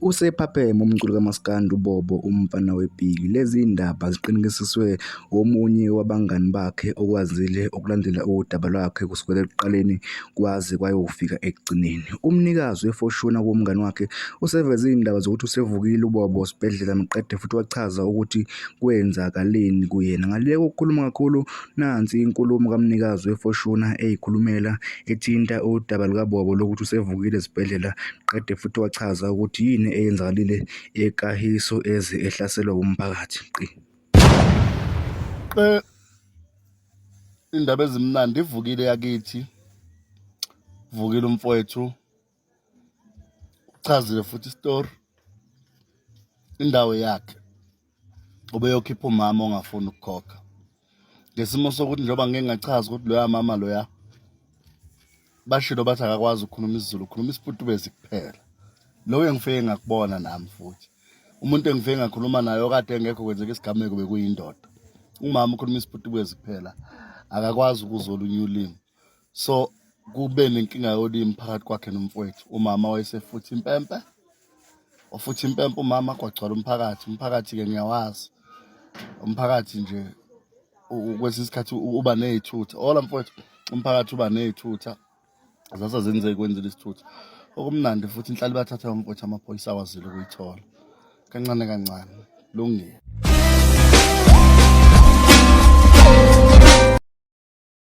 Usephapheme umculi kamaskandi uBobo umfana wePiki. Lezi ndaba ziqinekisiswe omunye wabangani bakhe okwazile ukulandela udaba lwakhe kusukela ekuqaleni kwaze kwayofika ekugcineni. Umnikazi wefoshuna kuwumngani wakhe useveze izindaba zokuthi usevukile uBobo esibhedlela maqede futhi wachaza ukuthi kwenzakaleni kuyena. Ngaluleka ukukhuluma kakhulu nansi inkulumo kamnikazi weFortuner eyikhulumela ethinta udaba lukaBobo lokuthi usevukile esibhedlela qede futhi wachaza ukuthi yini eyenzakalile eKahiso eze ehlaselwa wumphakathi. Qi. Eh, indaba ezimnandi ivukile yakithi vukile umfowethu Uchazile futhi isitori indawo yakhe ubeyokhipha umama ongafuni ukukhokha ngesimo sokuthi njengoba ngike ngachaza ukuthi loya mama loya bashilo bathi akakwazi ukukhuluma isiZulu ukhuluma isiputubezi kuphela lowo engifike ngakubona nami futhi umuntu engifike ngakhuluma naye okade engekho kwenzeka isigameko bekuyindoda umama ukhuluma isiputubezi kuphela akakwazi ukuzwa olunye ulimi so kube nenkinga yolimi phakathi kwakhe nomfowethu umama wayesefuthi impempe wafuthi impempe umama kwagcwala umphakathi umphakathi-ke ngiyawazi umphakathi nje kwesinye isikhathi uba ney'thutha ola mfowethu umphakathi uba ney'thutha zase zenzeki kwenzile isithutha okumnandi futhi inhlali bathatha yomfowethu amaphoyisa awazile ukuyithola kancane kancane lungile